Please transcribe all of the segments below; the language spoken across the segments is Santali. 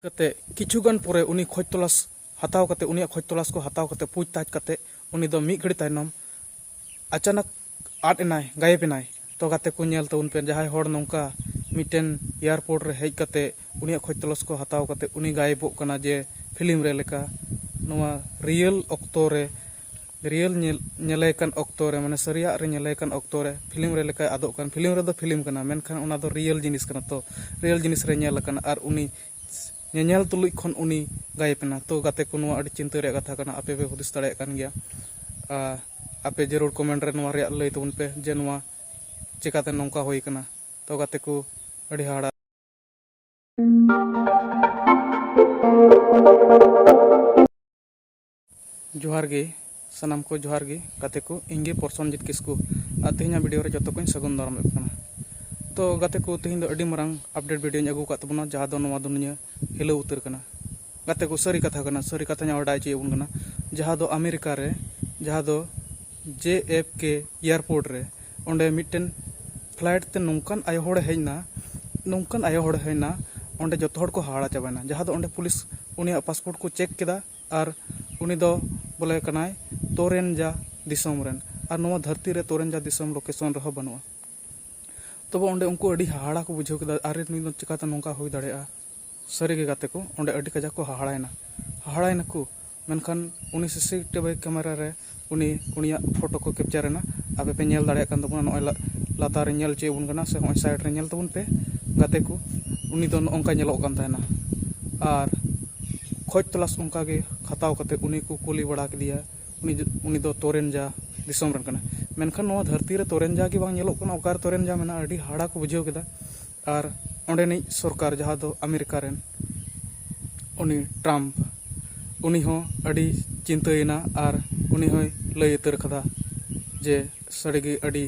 ᱠᱟᱛᱮ ᱠᱤᱪᱷᱩ ᱜᱟᱱ ᱯᱚᱨᱮ ᱩᱱᱤ ᱠᱷᱚᱡᱽ ᱛᱚᱞᱟᱥ ᱦᱟᱛᱟᱣ ᱠᱟᱛᱮ ᱩᱱᱤᱭᱟᱜ ᱠᱷᱚᱡᱽ ᱛᱚᱞᱟᱥ ᱠᱚ ᱦᱟᱛᱟᱣ ᱠᱟᱛᱮ ᱯᱩᱡᱽ ᱛᱟᱡᱽ ᱠᱟᱛᱮ ᱩᱱᱤ ᱫᱚ ᱢᱤᱫ ᱜᱷᱟᱹᱲᱤ ᱛᱟᱭᱱᱚᱢ ᱟᱪᱟᱱᱚᱠ ᱟᱫ ᱮᱱᱟᱭ ᱜᱟᱭᱮᱵᱽ ᱮᱱᱟᱭ ᱛᱚ ᱜᱟᱛᱮ ᱠᱚ ᱧᱮᱞ ᱛᱮ ᱩᱱ ᱯᱮ ᱡᱟᱦᱟᱸᱭ ᱦᱚᱲ ᱱᱚᱝᱠᱟ ᱢᱤᱫᱴᱮᱱ ᱮᱭᱟᱨᱯᱳᱨᱴ ᱨᱮ ᱦᱮᱡ ᱠᱟᱛᱮ ᱩᱱᱤᱭᱟᱜ ᱠᱷᱚᱡᱽ ᱛᱚᱞᱟᱥ ᱠᱚ ᱦᱟᱛᱟᱣ ᱠᱟᱛᱮ ᱩᱱᱤ ᱜᱟᱭᱮᱵᱚᱜ ᱠᱟᱱᱟ ᱡᱮ ᱯᱷᱤᱞᱢ ᱨᱮ ᱞᱮᱠᱟ ᱱᱚᱣᱟ ᱨᱤᱭᱮᱞ ᱚᱠᱛᱚ ᱨᱮ ᱨᱤᱭᱮᱞ ᱧᱮᱞ ᱧᱮᱞᱮ ᱠᱟᱱ ᱚᱠᱛᱚ ᱨᱮ ᱢᱟᱱᱮ ᱥᱟᱹᱨᱤᱭᱟᱜ ᱨᱮ ᱧᱮᱞᱮ ᱠᱟᱱ ᱚᱠᱛᱚ ᱨᱮ ᱯᱷᱤᱞᱢ ᱨᱮ ᱞᱮᱠᱟᱭ ᱟᱫᱚᱜ ᱠᱟᱱ ᱯᱷᱤᱞᱢ ᱨᱮᱫᱚ ᱯᱷᱤᱞᱢ ᱠᱟᱱᱟ ᱢᱮᱱᱠᱷᱟᱱ ᱚᱱᱟ ᱫᱚ ᱨᱤᱭᱮᱞ ᱡᱤᱱᱤᱥ ᱠᱟᱱᱟ ᱛᱚ ᱨᱤᱭᱮᱞ ᱡᱤᱱᱤᱥ ᱨᱮ ᱧᱮᱞ ᱟᱠᱟᱱᱟ ᱟᱨ ᱩᱱᱤ ᱧᱮᱧᱮᱞ ᱛᱩᱞᱩᱡ ᱠᱷᱚᱱ ᱩᱱᱤ ᱜᱟᱭᱮᱯ ᱮᱱᱟ ᱛᱚ ᱜᱟᱛᱮ ᱠᱚ ᱱᱚᱣᱟ ᱟᱹᱰᱤ ᱪᱤᱱᱛᱟᱹ ᱨᱮᱭᱟᱜ ᱠᱟᱛᱷᱟ ᱠᱟᱱᱟ ᱟᱯᱮ ᱯᱮ ᱦᱩᱫᱤᱥ ᱫᱟᱲᱮᱭᱟᱜ ᱠᱟᱱ ᱜᱮᱭᱟ ᱟᱨ ᱟᱯᱮ ᱡᱟᱹᱨᱩᱲ ᱠᱚᱢᱮᱱᱴ ᱨᱮ ᱱᱚᱣᱟ ᱨᱮᱭᱟᱜ ᱞᱟᱹᱭ ᱛᱟᱵᱚᱱ ᱯᱮ ᱡᱮ ᱱᱚᱣᱟ ᱪᱮᱠᱟᱛᱮ ᱱᱚᱝᱠᱟ ᱦᱩᱭ ᱠᱟᱱᱟ ᱛᱚ ᱜᱟᱛᱮ ᱠᱚ ᱟᱹᱰᱤ ᱦᱟᱦᱟᱲᱟ ᱡᱚᱦᱟᱨ ᱜᱮ ᱥᱟᱱᱟᱢ ᱠᱚ ᱡᱚᱦᱟᱨ ᱜᱮ ᱜᱟᱛᱮ ᱠᱚ ᱤᱧ ᱜᱮ ᱯᱨᱚᱥᱚᱱᱡᱤᱛ ᱠᱤᱥᱠᱩ ᱟᱨ ᱛᱮᱦᱮᱧᱟᱜ ᱵᱷᱤᱰᱤᱭᱳ ᱨᱮ ᱡᱚᱛᱚ ᱠᱚᱧ ᱥᱟᱹᱜᱩᱱ ᱫᱟᱨᱟᱢ ᱮᱫ ᱠᱟᱱᱟ ᱛᱚ ᱜᱟᱛᱮ ᱠᱚ ᱛᱮᱦᱮᱧ ᱫᱚ ᱟᱹᱰᱤ ᱢᱟᱨᱟᱝ ᱟᱯᱰᱮᱴ ᱵᱷᱤᱰᱤᱭᱳᱧ ᱟᱹᱜᱩ ᱟᱠᱟᱫ ᱛᱟᱵᱚᱱᱟ ᱡᱟᱦᱟᱸ ᱫᱚ ᱱᱚᱣᱟ ᱫᱩᱱᱤᱭᱟᱹ ᱦᱤᱞᱟᱹᱣ ᱩᱛᱟᱹᱨ ᱠᱟᱱᱟ ᱜᱟᱛᱮ ᱠᱚ ᱥᱟᱹᱨᱤ ᱠᱟᱛᱷᱟ ᱠᱟᱱᱟ ᱥᱟᱹᱨᱤ ᱠᱟᱛᱷᱟᱧ ᱵᱟᱰᱟᱭ ᱦᱚᱪᱚᱭᱮᱫ ᱵᱚᱱ ᱠᱟᱱᱟ ᱡᱟᱦᱟᱸ ᱫᱚ ᱟᱢᱮᱨᱤᱠᱟ ᱨᱮ ᱡᱟᱦᱟᱸ ᱫᱚ ᱡᱮ ᱮᱯᱷ ᱠᱮ ᱮᱭᱟᱨᱯᱳᱨᱴ ᱨᱮ ᱚᱸᱰᱮ ᱢᱤᱫᱴᱮᱱ ᱯᱷᱞᱟᱭᱤᱴ ᱛᱮ ᱱᱚᱝᱠᱟᱱ ᱟᱭᱳ ᱦᱚᱲᱮ ᱦᱮᱡ ᱮᱱᱟ ᱱᱚᱝᱠᱟᱱ ᱟᱭᱳ ᱦᱚᱲᱮ ᱦᱮᱡ ᱮᱱᱟ ᱚᱸᱰᱮ ᱡᱚᱛᱚ ᱦᱚᱲ ᱠᱚ ᱦᱟᱦᱟᱲᱟ ᱪᱟᱵᱟᱭᱮᱱᱟ ᱡᱟᱦᱟᱸ ᱫᱚ ᱚᱸᱰᱮ ᱯᱩᱞᱤᱥ ᱩᱱᱤᱭᱟᱜ ᱯᱟᱥᱯᱳᱨᱴ ᱠᱚ ᱪᱮᱠ ᱠᱮᱫᱟ ᱟᱨ ᱩᱱᱤ ᱫᱚ ᱵᱚᱞᱮ ᱠᱟᱱᱟᱭ ᱛᱳᱨᱮᱱᱡᱟ ᱫᱤᱥᱚᱢ ᱨᱮᱱ ᱟᱨ ᱱᱚᱣᱟ ᱫᱷᱟᱹᱨᱛᱤ ᱨᱮ ᱛᱳᱨᱮᱱᱡᱟ ᱫᱤᱥᱚᱢ ᱞᱳᱠᱮᱥᱚᱱ ᱨᱮᱦᱚᱸ ᱵᱟᱹᱱᱩᱜᱼᱟ ᱛᱚᱵᱮ ᱚᱸᱰᱮ ᱩᱱᱠᱩ ᱟᱹᱰᱤ ᱦᱟᱦᱟᱲᱟ ᱠᱚ ᱵᱩᱡᱷᱟᱹᱣ ᱠᱮᱫᱟ ᱟᱨᱮ ᱱᱩᱭ ᱫᱚ ᱪᱤᱠᱟᱹᱛᱮ ᱱᱚᱝᱠᱟ ᱦᱩᱭ ᱫᱟᱲᱮᱭᱟᱜᱼᱟ ᱥᱟᱹᱨᱤᱜᱮ ᱜᱟᱛᱮ ᱠᱚ ᱚᱸᱰᱮ ᱟᱹᱰᱤ ᱠᱟᱡᱟᱠ ᱠᱚ ᱦᱟᱦᱟᱲᱟᱭᱮᱱᱟ ᱦᱟᱦᱟᱲᱟᱭᱮᱱᱟᱠᱚ ᱢᱮᱱᱠᱷᱟᱱ ᱩᱱᱤ ᱥᱤᱥᱤ ᱴᱤᱵᱷᱤ ᱠᱮᱢᱮᱨᱟ ᱨᱮ ᱩᱱᱤ ᱩᱱᱤᱭᱟᱜ ᱯᱷᱳᱴᱳ ᱠᱚ ᱠᱮᱯᱪᱟᱨ ᱮᱱᱟ ᱟᱯᱮ ᱯᱮ ᱧᱮᱞ ᱫᱟᱲᱮᱭᱟᱜ ᱠᱟᱱ ᱛᱟᱵᱚᱱᱟ ᱱᱚᱜᱼᱚᱭ ᱞᱟᱛᱟᱨ ᱨᱮ ᱧᱮᱞ ᱦᱚᱪᱚᱭᱮᱫ ᱵᱚᱱ ᱠᱟᱱᱟ ᱥᱮ ᱱᱚᱜᱼᱚᱭ ᱥᱟᱭᱤᱰ ᱨᱮ ᱧᱮᱞ ᱛᱟᱵᱚᱱ ᱯᱮ ᱜᱟᱛᱮ ᱠᱚ ᱩᱱᱤ ᱫᱚ ᱱᱚᱜᱼᱚ ᱱᱚᱝᱠᱟ ᱧᱮᱞᱚᱜ ᱠᱟᱱ ᱛᱟᱦᱮᱱᱟ ᱟᱨ ᱠᱷᱚᱡᱽ ᱛᱚᱞᱟᱥ ᱚᱱᱠᱟ ᱜᱮ ᱦᱟᱛᱟᱣ ᱠᱟᱛᱮ ᱩᱱᱤ ᱠᱚ ᱠᱩᱞᱤ ᱵᱟᱲᱟ ᱠᱮᱫᱮᱭᱟ ᱩᱱᱤ ᱩᱱᱤ ᱫᱚ ᱛᱚᱨᱮᱱᱡᱟ ᱫᱤᱥᱚᱢ ᱨᱮᱱ ᱠᱟᱱᱟᱭ ᱢᱮᱱᱠᱷᱟᱱ ᱱᱚᱣᱟ ᱫᱷᱟᱹᱨᱛᱤ ᱨᱮ ᱛᱚᱨᱮᱱᱡᱟ ᱜᱮ ᱵᱟᱝ ᱧᱮᱞᱚᱜ ᱠᱟᱱᱟ ᱚᱠᱟᱨᱮ ᱛᱚᱨᱮᱱᱡᱟ ᱢᱮᱱᱟᱜᱼᱟ ᱟᱹᱰᱤ ᱦᱟᱦᱟᱲᱟ ᱠᱚ ᱵᱩᱡᱷᱟᱹᱣ ᱠᱮᱫᱟ ᱟᱨ ᱚᱸᱰᱮᱱᱤᱡ ᱥᱚᱨᱠᱟᱨ ᱡᱟᱦᱟᱸ ᱫᱚ ᱟᱢᱮᱨᱤᱠᱟ ᱨᱮᱱ ᱩᱱᱤ ᱴᱨᱟᱢᱯ ᱩᱱᱤ ᱦᱚᱸ ᱟᱹᱰᱤ ᱪᱤᱱᱛᱟᱹᱭᱮᱱᱟ ᱟᱨ ᱩᱱᱤ ᱦᱚᱸᱭ ᱞᱟᱹᱭ ᱩᱛᱟᱹᱨ ᱠᱟᱫᱟ ᱡᱮ ᱥᱟᱹᱨᱤ ᱜᱮ ᱟᱹᱰᱤ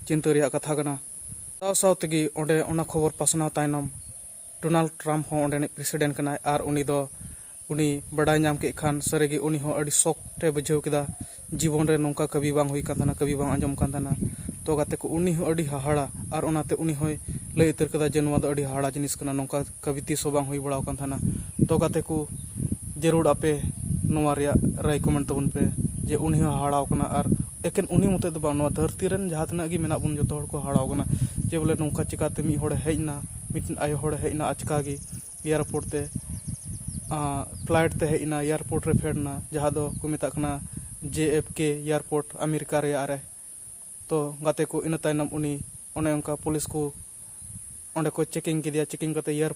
ᱪᱤᱱᱛᱟᱹ ᱨᱮᱭᱟᱜ ᱠᱟᱛᱷᱟ ᱠᱟᱱᱟ ᱥᱟᱶ ᱥᱟᱶ ᱛᱮᱜᱮ ᱚᱸᱰᱮ ᱚᱱᱟ ᱠᱷᱚᱵᱚᱨ ᱯᱟᱥᱱᱟᱣ ᱛᱟᱭᱱᱚᱢ ᱰᱳᱱᱟᱞᱰ ᱴᱨᱟᱢᱯ ᱦᱚᱸ ᱚᱸᱰᱮᱱᱤᱡ ᱯᱨᱮᱥᱤᱰᱮᱱᱴ ᱠᱟᱱᱟᱭ ᱟᱨ ᱩᱱᱤ ᱫᱚ ᱩᱱᱤ ᱵᱟᱰᱟᱭ ᱧᱟᱢ ᱠᱮᱫ ᱠᱷᱟᱱ ᱥᱟᱹᱨᱤ ᱜᱮ ᱩᱱᱤ ᱦᱚᱸ ᱟᱹᱰᱤ ᱥᱚᱠ ᱮ ᱵᱩᱡᱷᱟᱹᱣ ᱠᱮᱫᱟ ᱡᱤᱵᱚᱱ ᱨᱮ ᱱᱚᱝᱠᱟ ᱠᱟᱹᱢᱤ ᱵᱟᱝ ᱦᱩᱭ ᱟᱠᱟᱱ ᱛᱟᱦᱮᱱᱟ ᱠᱟᱹᱢᱤ ᱵᱟᱝ ᱟᱸᱡᱚᱢ ᱟᱠᱟᱱ ᱛᱟᱦᱮᱱᱟ ᱛᱚ ᱜᱟᱛᱮ ᱠᱚ ᱩᱱᱤ ᱦᱚᱸ ᱟᱹᱰᱤ ᱦᱟᱦᱟᱲᱟ ᱟᱨ ᱚᱱᱟ ᱛᱮ ᱩᱱᱤ ᱦᱚᱸᱭ ᱞᱟᱹᱭ ᱩᱛᱟᱹᱨ ᱠᱮᱫᱟ ᱡᱮ ᱱᱚᱣᱟ ᱫᱚ ᱟᱹᱰᱤ ᱦᱟᱦᱟᱲᱟ ᱡᱤᱱᱤᱥ ᱠᱟᱱᱟ ᱱᱚᱝᱠᱟ ᱠᱟᱹᱢᱤ ᱛᱤᱥ ᱦᱚᱸ ᱵᱟᱝ ᱦᱩᱭ ᱵᱟᱲᱟ ᱟᱠᱟᱱ ᱛᱟᱦᱮᱱᱟ ᱛᱚ ᱜᱟᱛᱮ ᱠᱚ ᱡᱟᱹᱨᱩᱲ ᱟᱯᱮ ᱱᱚᱣᱟ ᱨᱮᱭᱟᱜ ᱨᱟᱭ ᱠᱚᱢᱮᱱᱴ ᱛᱟᱵᱚᱱ ᱯᱮ ᱡᱮ ᱩᱱᱤ ᱦᱚᱸ ᱦᱟᱦᱟᱲᱟ ᱟᱠᱟᱱᱟ ᱟᱨ ᱮᱠᱮᱱ ᱩᱱᱤ ᱢᱚᱛᱚ ᱫᱚ ᱵᱟᱝ ᱱᱚᱣᱟ ᱫᱷᱟᱹᱨᱛᱤ ᱨᱮᱱ ᱡᱟᱦᱟᱸ ᱛᱤᱱᱟᱹᱜ ᱜᱮ ᱢᱮᱱᱟᱜ ᱵᱚᱱ ᱡᱚᱛᱚ ᱦᱚᱲ ᱠᱚ ᱦᱟᱦᱟᱲᱟ ᱟᱠᱟᱱᱟ ᱡᱮ ᱵᱚᱞᱮ ᱱᱚᱝᱠᱟ ᱪᱤᱠᱟᱹᱛᱮ ᱢᱤᱫ ᱦᱚᱲᱮ ᱦᱮᱡ ᱮᱱᱟ ᱢᱤᱫᱴᱮᱱ ᱟᱭᱳ ᱦᱚᱲᱮ ᱦᱮᱡ ᱮᱱᱟ ᱟᱪᱠᱟ ᱜᱮ ᱮᱭᱟᱨᱯᱳᱨᱴ ᱛᱮ ᱯᱷᱞᱟᱭᱤᱴ ᱛᱮ ᱦᱮᱡ ᱮᱱᱟ ᱮᱭᱟᱨᱯᱳᱨᱴ ᱨᱮ ᱯᱷᱮᱰ ᱮᱱᱟ ᱡᱟᱦᱟᱸ ᱫᱚ ᱠᱚ ᱢᱮᱛᱟᱜ ᱠᱟᱱᱟ J F K airport America ᱨᱮᱭᱟᱜ ᱨᱮ ᱛᱚ ᱜᱟᱛᱮ ᱠᱚ ᱤᱱᱟᱹ ᱛᱟᱭᱱᱚᱢ ᱩᱱᱤ ᱚᱱᱮ ᱚᱱᱠᱟ ᱯᱩᱞᱤᱥ ᱠᱚ ᱚᱸᱰᱮ ᱠᱚ ᱪᱮᱠᱤᱝ ᱠᱮᱫᱮᱭᱟ ᱪᱮᱠᱤᱝ ᱠᱟᱛᱮ ᱮᱭᱟᱨ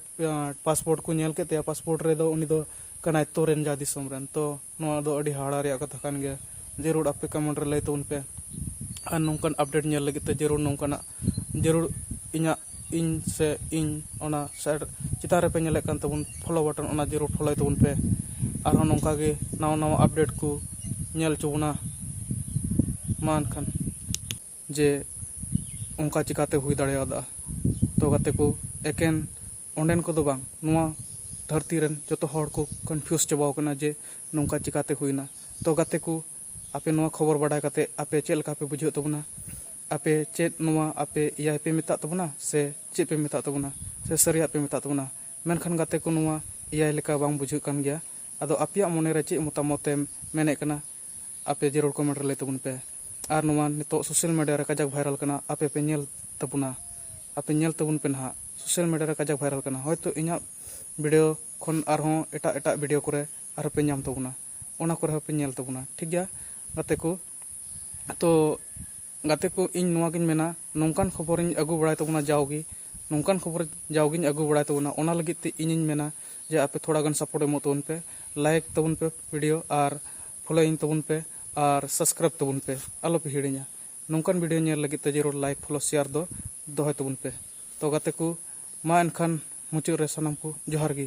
ᱯᱟᱥᱯᱳᱨᱴ ᱠᱚ ᱧᱮᱞ ᱠᱮᱫ ᱛᱟᱭᱟ ᱯᱟᱥᱯᱳᱨᱴ ᱨᱮᱫᱚ ᱩᱱᱤ ᱫᱚ ᱠᱟᱱᱟᱭ ᱛᱚᱨᱮᱱ ᱡᱟ ᱫᱤᱥᱚᱢ ᱨᱮᱱ ᱛᱚ ᱱᱚᱣᱟ ᱫᱚ ᱟᱹᱰᱤ ᱦᱟᱦᱟᱲᱟ ᱨᱮᱭᱟᱜ ᱠᱟᱛᱷᱟ ᱠᱟᱱ ᱜᱮᱭᱟ ᱡᱟᱹᱨᱩᱲ ᱟᱯᱮ ᱠᱚᱢᱮᱱᱴ ᱨᱮ ᱞᱟᱹᱭ ᱛᱟᱵᱚᱱ ᱯᱮ ᱟᱨ ᱱᱚᱝᱠᱟᱱ ᱟᱯᱰᱮᱴ ᱧᱮᱞ ᱞᱟᱹᱜᱤᱫ ᱛᱮ ᱡᱟᱹᱨᱩᱲ ᱱᱚᱝᱠᱟᱱᱟᱜ ᱡᱟᱹᱨᱩᱲ ᱤᱧᱟᱹᱜ ᱤᱧ ᱥᱮ ᱤᱧ ᱚᱱᱟ ᱥᱟᱭᱤᱰ ᱪᱮᱛᱟᱱ ᱨᱮᱯᱮ ᱧᱮᱞᱮᱫ ᱠᱟᱱ ᱛᱟᱵᱚᱱ ᱯᱷᱳᱞᱳ ᱵᱟᱴᱚᱱ ᱚᱱᱟ ᱡᱟᱹᱨᱩᱲ ᱯᱷᱳᱞᱳᱭ ᱛᱟᱵᱚᱱ ᱯᱮ ᱟᱨᱦᱚᱸ ᱱᱚᱝᱠᱟ ᱜᱮ ᱱᱟᱣᱟ ᱱᱟᱣᱟ ᱟᱯᱰᱮᱴ ᱠᱚ ᱧᱮᱞ ᱦᱚᱪᱚ ᱵᱚᱱᱟ ᱢᱟ ᱮᱱᱠᱷᱟᱱ ᱡᱮ ᱚᱱᱠᱟ ᱪᱤᱠᱟᱹᱛᱮ ᱦᱩᱭ ᱫᱟᱲᱮᱭᱟᱫᱟ ᱛᱚ ᱜᱟᱛᱮ ᱠᱚ ᱮᱠᱮᱱ ᱚᱸᱰᱮᱱ ᱠᱚᱫᱚ ᱵᱟᱝ ᱱᱚᱣᱟ ᱫᱷᱟᱹᱨᱛᱤ ᱨᱮᱱ ᱡᱚᱛᱚ ᱦᱚᱲ ᱠᱚ ᱠᱚᱱᱯᱷᱤᱭᱩᱥ ᱪᱟᱵᱟ ᱟᱠᱟᱱᱟ ᱡᱮ ᱱᱚᱝᱠᱟ ᱪᱤᱠᱟᱹᱛᱮ ᱦᱩᱭᱮᱱᱟ ᱛᱚ ᱜᱟᱛᱮ ᱠᱚ ᱟᱯᱮ ᱱᱚᱣᱟ ᱠᱷᱚᱵᱚᱨ ᱵᱟᱰᱟᱭ ᱠᱟᱛᱮ ᱟᱯᱮ ᱪᱮᱫ ᱞᱮᱠᱟ ᱯᱮ ᱵᱩᱡᱷᱟᱹᱣ ᱮᱫ ᱛᱟᱵᱚᱱᱟ ᱟᱯᱮ ᱪᱮᱫ ᱱᱚᱣᱟ ᱟᱯᱮ ᱮᱭᱟᱭ ᱯᱮ ᱢᱮᱛᱟᱜ ᱛᱟᱵᱚᱱᱟ ᱥᱮ ᱪᱮᱫ ᱯᱮ ᱢᱮᱛᱟᱜ ᱛᱟᱵᱚᱱᱟ ᱥᱮ ᱥᱟᱹᱨᱤᱭᱟᱜ ᱯᱮ ᱢᱮᱛᱟᱜ ᱛᱟᱵᱚᱱᱟ ᱢᱮᱱᱠᱷᱟᱱ ᱜᱟᱛᱮ ᱠᱚ ᱱᱚᱣᱟ ᱮᱭᱟᱭ ᱞᱮᱠᱟ ᱵᱟᱝ ᱵᱩᱡᱷᱟᱹᱜ ᱠᱟᱱ ᱜᱮᱭᱟ ᱟᱫᱚ ᱟᱯᱮᱭᱟᱜ ᱢᱚᱱᱮ ᱨᱮ ᱪᱮᱫ ᱢᱚᱛᱟᱢᱚᱛ ᱮᱢ ᱢᱮᱱᱮᱫ ᱠᱟᱱᱟ ᱟᱯᱮ ᱡᱟᱹᱨᱩᱲ ᱠᱚᱢᱮᱱᱴ ᱨᱮ ᱞᱟᱹᱭ ᱛᱟᱵᱚᱱ ᱯᱮ ᱟᱨ ᱱᱚᱣᱟ ᱱᱤᱛᱚᱜ ᱥᱳᱥᱟᱞ ᱢᱤᱰᱤᱭᱟ ᱨᱮ ᱠᱟᱡᱟᱠ ᱵᱷᱟᱭᱨᱟᱞ ᱠᱟᱱᱟ ᱟᱯᱮ ᱯᱮ ᱧᱮᱞ ᱛᱟᱵᱚᱱᱟ ᱟᱯᱮ ᱧᱮᱞ ᱛᱟᱵᱚᱱ ᱯᱮ ᱱᱟᱦᱟᱜ ᱥᱳᱥᱟᱞ ᱢᱤᱰᱤᱭᱟ ᱨᱮ ᱠᱟᱡᱟᱠ ᱵᱷᱟᱭᱨᱟᱞ ᱠᱟᱱᱟ ᱦᱚᱭᱛᱳ ᱤᱧᱟᱹᱜ ᱵᱷᱤᱰᱤᱭᱳ ᱠᱷᱚᱱ ᱟᱨᱦᱚᱸ ᱮᱴᱟᱜ ᱮᱴᱟᱜ ᱵᱷᱤᱰᱤᱭᱳ ᱠᱚᱨᱮ ᱟᱨᱦᱚᱸ ᱯᱮ ᱧᱟᱢ ᱛᱟᱵᱚᱱᱟ ᱚᱱᱟ ᱠᱚᱨᱮ ᱦᱚᱸᱯᱮ ᱧᱮᱞ ᱛᱟᱵᱚᱱᱟ ᱴᱷᱤᱠ ᱜᱮᱭᱟ ᱜᱟᱛᱮ ᱠᱚ ᱛᱚ ᱜᱟᱛᱮ ᱠᱚ ᱤᱧ ᱱᱚᱣᱟ ᱜᱤᱧ ᱢᱮᱱᱟ ᱱᱚᱝᱠᱟᱱ ᱠᱷᱚᱵᱚᱨ ᱤᱧ ᱟᱹᱜᱩ ᱵᱟᱲᱟᱭ ᱛᱟᱵᱚᱱᱟ ᱡᱟᱣ ᱜᱮ ᱱᱚᱝᱠᱟᱱ ᱠᱷᱚᱵᱚᱨ ᱡᱟᱣ ᱜᱤᱧ ᱟᱹᱜᱩ ᱵᱟᱲᱟᱭ ᱛᱟᱵᱚᱱᱟ ᱚᱱᱟ ᱞᱟᱹᱜᱤᱫ ᱛᱮ ᱤᱧᱤᱧ ᱢᱮᱱᱟ ᱡᱮ ᱟᱯᱮ ᱛᱷᱚᱲᱟ ᱜᱟᱱ ᱥᱟᱯᱳᱨᱴ ᱮᱢᱚᱜ ᱛᱟᱵᱚᱱ ᱯᱮ ᱞᱟᱭᱤᱠ ᱛᱟᱵᱚᱱ ᱯᱮ ᱵᱷᱤᱰᱤᱭᱳ ᱟᱨ ᱯᱷᱚᱞᱳᱭᱤᱝ ᱛᱟᱵᱚᱱ ᱯᱮ ᱟᱨ ᱥᱟᱵᱥᱠᱨᱟᱭᱤᱵᱽ ᱛᱟᱵᱚᱱ ᱯᱮ ᱟᱞᱚ ᱯᱮ ᱦᱤᱲᱤᱧᱟ ᱱᱚᱝᱠᱟᱱ ᱵᱷᱤᱰᱤᱭᱳ ᱧᱮᱞ ᱞᱟᱹᱜᱤᱫ ᱛᱮ ᱡᱟᱹᱨᱩᱲ ᱞᱟᱭᱤᱠ ᱯᱷᱚᱞᱳ ᱥᱮᱭᱟᱨ ᱫᱚ ᱫᱚᱦᱚᱭ ᱛᱟᱵᱚᱱ ᱯᱮ ᱛᱚ ᱜᱟᱛᱮ ᱠᱚ ᱢᱟ ᱮᱱᱠᱷᱟᱱ ᱢᱩᱪᱟᱹᱫ ᱨᱮ ᱥᱟᱱᱟᱢ ᱠᱚ ᱡᱚᱦᱟᱨ ᱜᱮ